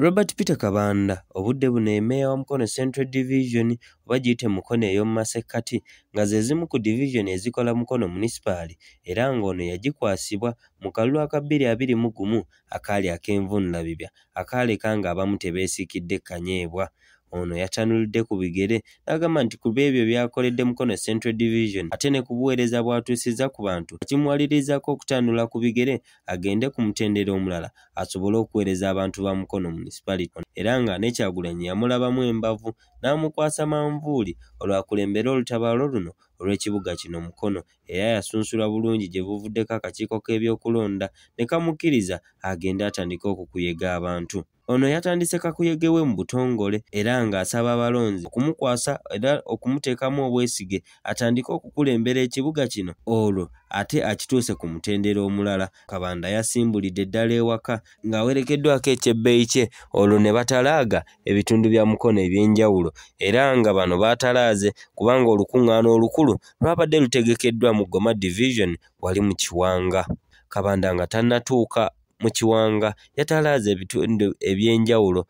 Robert Peter Kabanda obudde buno ye meeya wa Mukono Central Division oba giyite Mukono ey'omu masekkati nga ze zimu ku divizoni ezikola Mukono munisipaali era ng'ono yagikwasibwa mu kalulu aka bbiri abiri mu gumu akaali ak'envuunulabibya akaaleka ng'abamu tebeesiikidde kanyeebwa. Ono yatanulidde ku bigere n'agamba nti ku b'ebyo byakoledde Mukono Central Division ate ne ku buweereza bw'atuusizza ku bantu kimuwalirizaako okutanula ku bigere agende ku mutendera omulala asobole okuweereza abantu ba Mukono Municipality era nga ne Kyagulanyi yamulabamu embavu n'amukwasa manvuuli olwakulembera olutabaalo luno olw'ekibuga kino Mukono era yasunsulwa bulungi gye buvuddeko akakiiko k'ebyokulonda ne kamukkiriza agende atandike okukuyega abantu. Ono yatandise kakuyege we mu butongole era ng'asaba abalonzi okumukwasa era okumuteekamu obwesige atandike okukulembera ekibuga kino olwo ate akituuse ku mutendera omulala. Kabanda yasimbulidde ddala ewaka ng'awerekeddwako ekyebbeeyi kye olwo ne batalaaga ebitundu bya Mukono eby'enjawulo era nga bano baatalaaze kubanga olukuŋŋaana olukulu lwabadde lutegekeddwa mu Goma Division wali mu Kiwanga. Kabanda nga tannatuuka mu kiwanga yatalaaze ebitundu eby'enjawulo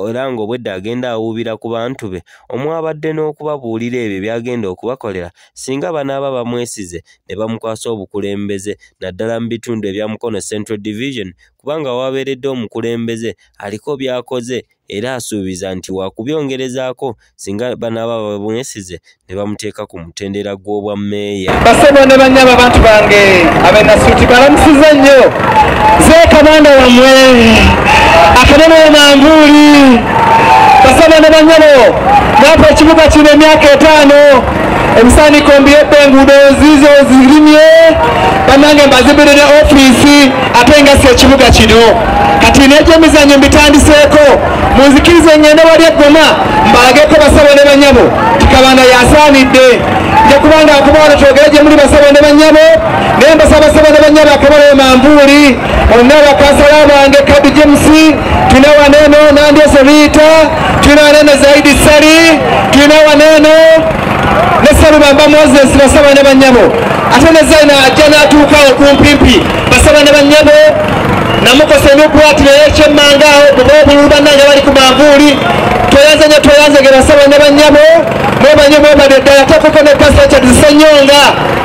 era ng'obwedda agenda awuubira ku bantu be omwabadde n'okubabuulira ebyo by'agenda okubakolera singa banaaba bamwesize ne bamukwasa obukulembeze naddala mu bitundu ebya Mukono Central Division kubanga wabeeredde omukulembeze aliko by'akoze era asuubiza nti waakubyongerezaako singa banaaba babwesize ne bamuteeka ku mutendera gw'obwa meeya basebo ne banyaba bantu bange abenasuuti balamusiza nnyo zeekabanda wamwe akanene manvuuli basebo ne banyabo naapa ekibuga kino emyaka etaano ebisaaniko mbiyebbe enguudo ziizo zirimye bannange mbazibirire ofiisi ate nga si ekibuga kino kati n'ebyemizannyo mbitandiseeko munzikirize ngende wali eggoma mbalageko basabo ne banyabo tikabanda yasaanidde nja kuba nga akubawano kyogere gye muli basabo ne banyabo naye mbasabasabo ne banyabo akabalayo manvuuli olina bakasala bange kadi james tulina waneno nandyese riita tulina waneno zaidi sali tulina waneno ne salubamba moses basabo ne banyabo ate ne zaina ajja n'atuukawo kumpimpi basaba ne bannyabo namukosa ebyokwatirira ekyemmanga awo kuba obululu bannange bali ku manvuuli tweyanze nyo tweyanze ge basaba ne bannyabo mwebanyo mwebade ddala tokoko ne pasita zisenyonga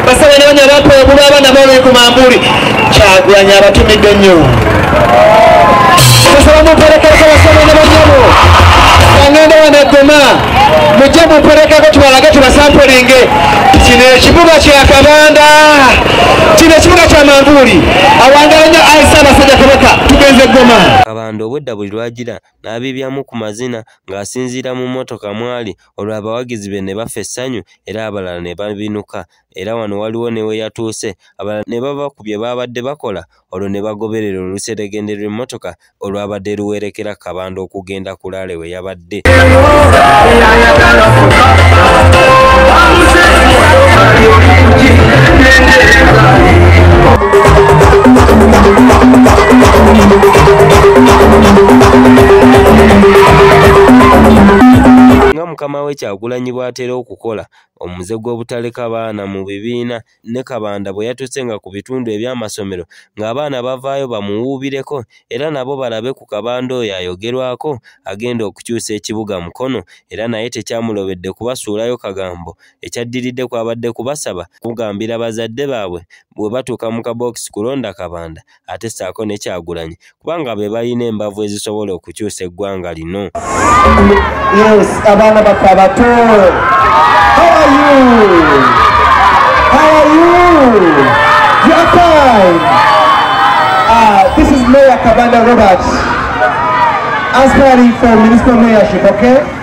basaba ne banya bampa obulu abaana baoloi ku manvuuli kyagulanyi abatumidde nnyo tusaba mumperekereko basaba ne bannyabo kangenda wano eggoma mujje mumperekeko tubalage tubasampulinge kino ekibuga kyakabanda kino ekibuga kya manvuuli awangala nnyo ayi ssaabasajja kabaka tugenze goma kabanda obwedda buli lwagira n'abibyamu ku mazina ng'asinziira mu mmotoka mwali olwo abawagizi be ne bafa essanyu era abalala ne babinuka era wano waliwo ne we yatuuse abalala ne bava ku bye baabadde bakola olwo ne bagoberera oluseregende lw'emmotoka olwabadde luwerekera kabanda okugenda ku laale we yabadde nga mukama we kyagulanyi bw'atera okukola omuze gw'obutaleka baana mu bibiina ne Kabanda bwe yatuuse nga ku bitundu eby'amasomero ng'abaana bavaayo bamuwuubireko era nabo balabe ku Kabanda oyo ayogerwako agenda okukyusa ekibuga Mukono era naye tekyamulobedde kubasuulayo kagambo ekyaddiridde kwabadde kubasaba kugambira bazadde baabwe bwe batuuka mu kabookisi kulonda Kabanda ate ssaako ne kyagulanyi kubanga be balina embavu ezisobola okukyusa eggwanga lino yes, abaana baffe abato Kabanda Robert, aspiring for municipal mayorship, okay?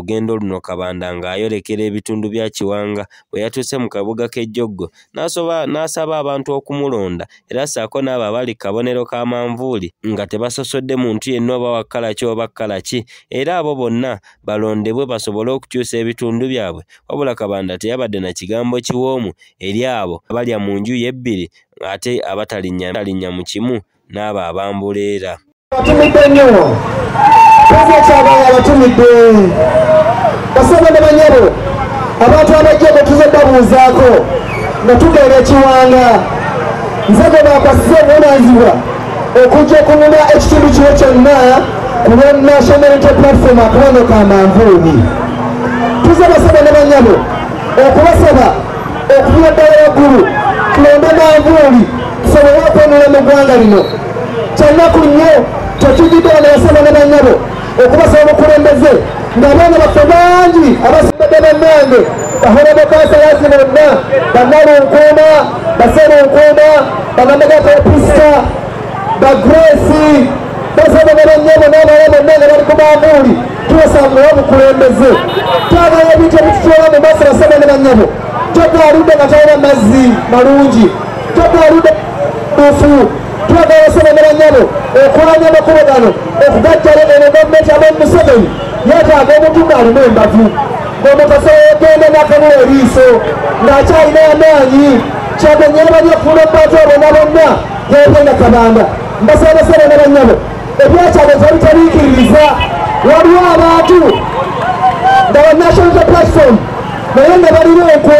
lugendo luno Kabanda ng'ayolekera ebitundu bya Kiwanga bwe yatuuse mu kabuga k'e Jjoggo n'asaba abantu okumulonda era ssaako n'abo abali kabonero ka manvuuli nga tebasosodde muntu yenna oba wakkalaki oba kkalaki era abo bonna balondebwe basobole okukyusa ebitundu byabwe wabula Kabanda teyabadde na kigambo kiwoomu eri abo abalya mu nju ye ebbiri ate abatalinnya mu kimu n'abo abambuleera abatumidde nnyo pulezidentiabaye abatumidde basaba ne banyabo abantu abajja bwe tuze babuuzaako nga tugenda ekiwanga nze gwe bakwasiza obuvunaanyizibwa okujja okununa ekitundu kino kyonna ku lwa national unity platform akabano ka manvuubi tuze basaba ne banyabo okubasaba okuvira ddala waggulu tulonde manvuuli sobola okwenula mu ggwanga lino kyannaku nnyo kyekijidde bano basaba ne banyabo okubasaba obukulembeze ngabaana baffe bangi abasimbadde bannange bahorabokansalazi bonna bannalunkuuma baserunkuuma banamagakapisita bagresi basaba ne banyabo n'abala bonna nga bali ku maamuuli tubasangawo obukulembeze twagala ebintu ebitutwala mu maaso basaba ne banyabo totwaludde nga talina mazzi malungi tebwerude bufu twagala sebagala nyabo okulanya amakubo gano okugajjala eno gavumenti abamu museveni yetaaga omuntu ng'alina embavu ng'omukasa yegenda nakabula eriiso ng'akyalina amaanyi kyagenyera bali okuula obubantu abona bonna yegenda kabanda mbasabasaba na banyabo ebyakyalo tebitaliikiririza waliwo abantu nga banational platform naye nga balina enkwe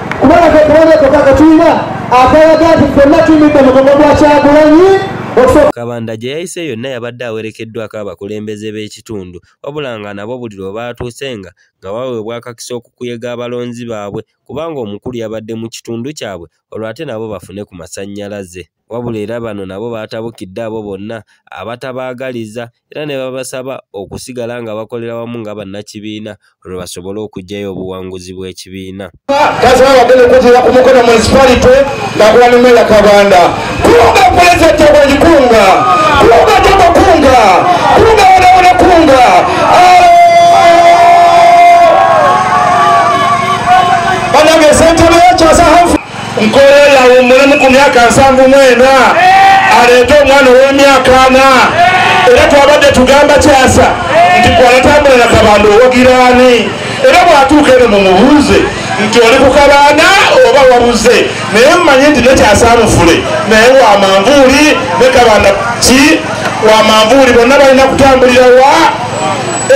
kubanga kekabanga koko akatulina akalaga nti fenna tumidde mugongo gwa kyagulanyi kabanda gye yayise yonna yabadde awerekeddwako abakulembeze b'ekitundu wabula nga nabo buli lwe baatuuse nga nga baweebwa akakisa okukuyega abalonzi baabwe kubanga omukulu yabadde mu kitundu kyabwe olwo ate nabo bafune ku masannyalaze Wabula era bano nabo baatabukidde abo bonna abatabaagaliza era ne babasaba okusigala nga bakolera wamu nga bannakibiina olwo basobole okuggyayo obuwanguzi bw'ekibiina. Kazima abadde n'okutuula ku Mukono munisipalite ng'akola ne Meeya Kabanda. Kulunga pulezidenti Agwenyi Kulunga, Kulunga Jogo Kulunga, Kulunga Wonawona Kulunga. Banange ssentebe yakyasa Humphrey. nkola eyo awummulemu ku myaka nsanvu mu ena aleete omwana ow'emyaka ana era twabadde tugamba kyasa nti kwanatambula na kabanda owogiraani era bwatuuka eno mumubuuze nti oli ku kabanda oba wabuze naye mumanye nti nekyasamufule naye wamanvuuli ne kabanda ki wamanvuuli bonna balina kutambulira wa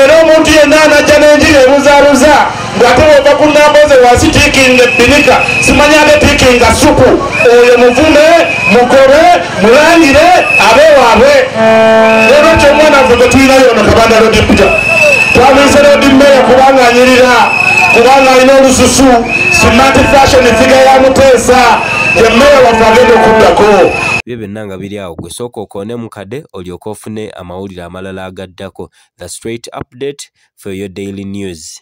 era omuntu yenna anajja n'enjiri ebuzabuza ng'ate bwova ku namba ze wansi tiikinga ebbinika simanya ate tiikinga supu oyo muvume mukobe mulangire abe waabwe era ekyo omwana nfe gwe tulina yono kabanda lodipita twamuyise lodi mmeeya kubanga anyirira kubanga alina olususu smart fashion figa ya muteesa ye mmeeya waffe agenda okuddako byo byonna nga biri awo gwe sooka okoone mu kade olyoke ofune amawulire amalala agaddako the straight update for your daily news